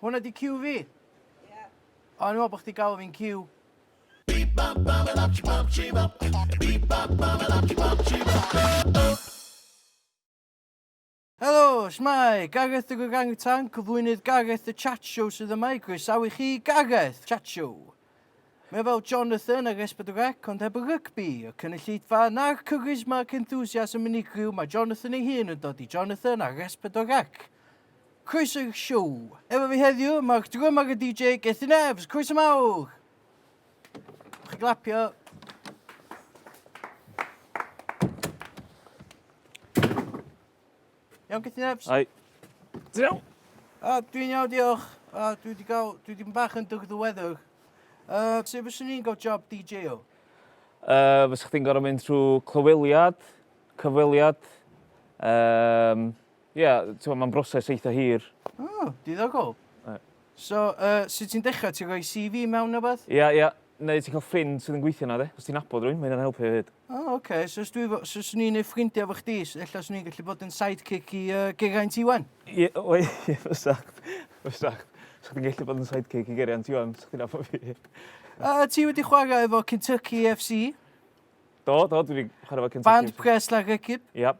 Hwna di cue fi? Ie. O, o'n i'n meddwl bod chdi galw fi'n cue. Beep bop bop a bop bop chee bop. Beep bop bop a bop bop chee bop. Helo, shwmae! Gareth the Gogangitan, cyflwynydd Gareth the Chat Show sydd yma i groesawu chi i Gareth Chat Show. Mae fel Jonathan ar Esbydwrec, ond heb y rygbi, y cynulleidfa na'r charisma ac enthusiasm unigryw mae Jonathan ei hun yn dod i Jonathan ar Esbydwrec. Croeso i'r siow. Efo fi heddiw, mae'r drymar a DJ Gethin Evs. Croeso mawr! Chi glapio. Iawn, Gethin Evs? Ai. Ti'n iawn? A, dwi'n iawn, diolch. A, dwi wedi gael, dwi wedi bach yn dyg ddiweddar. Uh, sut fyswn ni'n gael job DJ o? Uh, fysych chdi'n gorau mynd trwy clyweliad, cyfweliad, um, Ie, t'mo' ma'n broses eitha hir. O, diddogol. Ie. So yy sut ti'n dechra? Ti'n rhoi See Vee mewn ne' wbath? Ia ia. Neu ti'n ca'l ffrind sydd yn gweithio 'na de? Os ti'n nabod rywun ma' hynna'n helpu hefyd. O oce, so os dwi efo- so swn i'n neud ffrindia efo chdi s- ella swn i'n gallu bod yn sidekick i yy Geraint Iwan? Ie we- ie fysa. Fysa. Sa chdi'n gellu bod yn sidekick i Geraint Iwan, sa chdi'n nabod fi. A yy ti wedi chwara efo Kentucky FC? Do do dwi 'di chwara efo Kentucky... Band Pres Llanrhegib? Ia.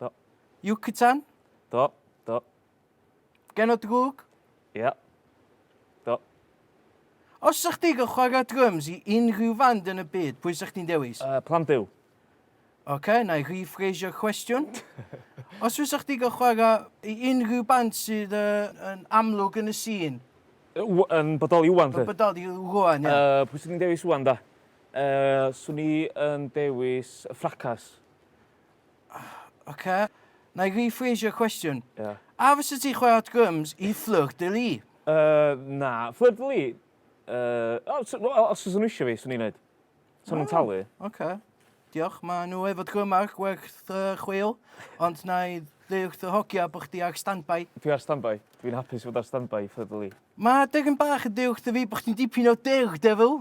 Do. Yucatan? Do, do. Gen o drwg? Ia. Do. Os sa chdi gael chwarae drums i unrhyw fand yn y byd, pwy sa chdi'n dewis? Uh, Plan Byw. OK, na i rephrasio cwestiwn. Os fysa chdi gael chwarae i unrhyw band sydd uh, yn amlwg yn y sîn? Yn bodoli wwan, Yn bodoli wwan, ie. Uh, pwy sy'n ni'n dewis wwan, da? Uh, swn i yn dewis y ffracas. Oce. Wna i rephrasio cwestiwn. Ie. A fysa ti'n chwarae dryms i Fleur de Lys? Yy na. Fleur de Lys? Yy o s- wel os fysa nhw isio fi, swn i'n neud. Sa nhw'n talu. Oce. Diolch. Ma' nhw efo drymar gwerth yy chweil ond wna i ddeu wrth y hogia bo' chdi ar standby. Dwi ar standby. Dwi'n hapus i fod ar standby i Fleur de Lys. Ma' degyn bach yn deu wrtho fi bo' chdi'n dipyn o daredevil.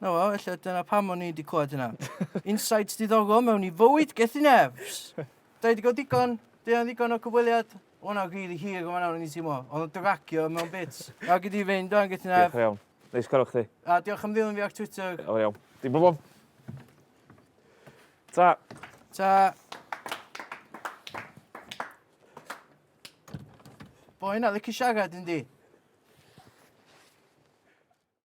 Na wel, ella dyna pam o'n i wedi clywed hynna. Insights diddogol mewn i fywyd gethin efs. Da i wedi gweld digon, da i ddigon o cyfweliad. O'n o'n rili hir o'n o'n i'n teimlo. O'n o'n dragio mewn bits. Da gyd i fynd o'n gethin efs. Diolch iawn. Neis cael o'ch chi. A diolch am ddilyn fi ar Twitter. O iawn. Dim problem. Ta. Ta. Boen a licio siarad yndi?